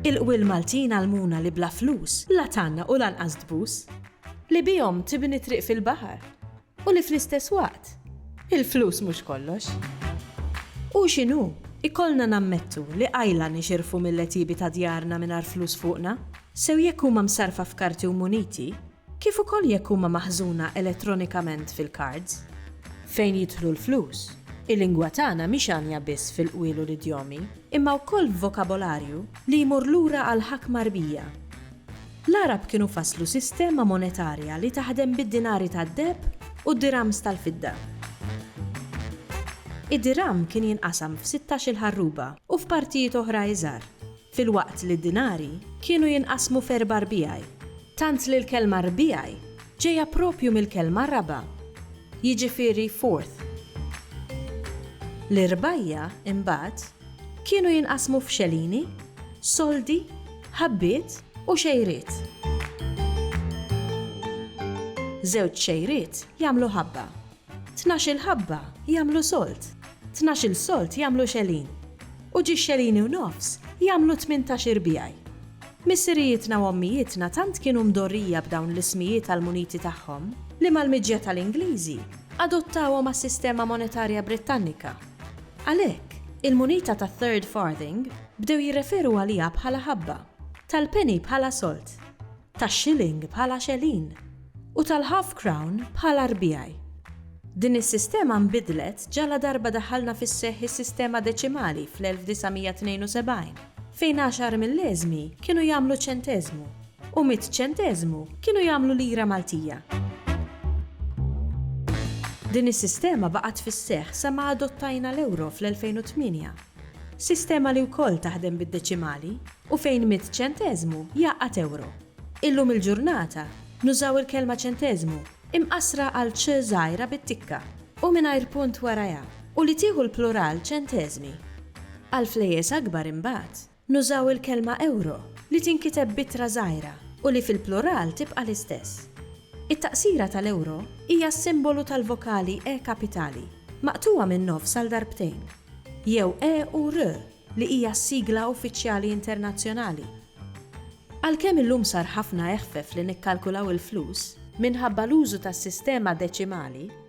Il-qwiel Maltin għallmuna li bla flus la tgħanna u lanqas tbus. Li bihom tibni triq fil-baħar. U li fl-istess waqt, il-flus mhux kollox. Hu x'inhu, ikollna nammettu li qajla nixirfu mill-għetiebi ta' djarna mingħajr flus fuqna, sew jekk huma msarrfa f'karti u muniti, kif ukoll jekk huma maħżuna elettronikament fil-cards. Fejn jidħlu l-flus, il-lingwa tagħna mhix għanja biss fil-qwiel u l-idjomi, imma wkoll f'vokabolarju li jmur lura għall-ħakma rbija. L-Għarab kienu fasslu sistema monetarja li taħdem bid-dinari tad-deheb u d-dirhams tal-fidda. Id-dirham kien jinqasam f'sittax-il ħarruba u f'partijiet oħra iżgħar, filwaqt li d-dinari kienu jinqasmu f'erba' rbiegħi, tant li l-kelma rbiegħi ġejja proprju mill-kelma raba', jiġifieri fourth. L-irbgħija, imbagħad, Kienu jinqasmu f'xelini, soldi, ħabbiet u xejriet. Żewġ xejriet jagħmlu ħabba. Tnax-il ħabba jagħmlu sold. Tnax-il sold jagħmlu xelin. U ġiex xelini u nofs jagħmlu tmintax irbiegħi. Missirijietna u ommijietna tant kienu mdorrija b'dawn l-ismijiet għall-muniti tagħhom li mal-miġja tal-Ingliżi adottawhom għas-sistema monetarja Brittannika. Għalhekk, il-munita tat-third farthing bdew jirreferu għaliha bħala ħabba, tal-penny bħala solt, tax-shilling bħala xelin, u tal-half crown bħala rbiegħi. Din is-sistema nbidlet ġaladarba daħħalna fis-seħħ is-sistema deċimali fl-1972, fejn għaxar milleżmi kienu jagħmlu ċenteżmu. u mitt ċenteżmu kienu jagħmlu lira Maltija. Din is-sistema baqgħet fis-seħħ sa ma adottajna l-euro fl-2008. Sistema li wkoll taħdem bid-deċimali u fejn mitt ċenteżmu jgħaqqad euro. Illum il-ġurnata nużaw il-kelma ċenteżmu imqassra għal ċ żgħira bit-tikka u mingħajr punt warajha u li tieħu l-plural ċenteżmi. Għall-flejjes akbar imbagħad. Nużaw il-kelma ewro li tinkiteb b'ittra żgħira u li fil-plural tibqa' l-istess. It-taqsira tal-ewro hija s-simbolu tal-vokali e kapitali maqtugħa min-nofs għal darbtejn, jew e u r li hija s-sigla uffiċjali internazzjonali. Għalkemm illum sar ħafna eħfef li nikkalkulaw il-flus, minħabba l-użu tas-sistema deċimali,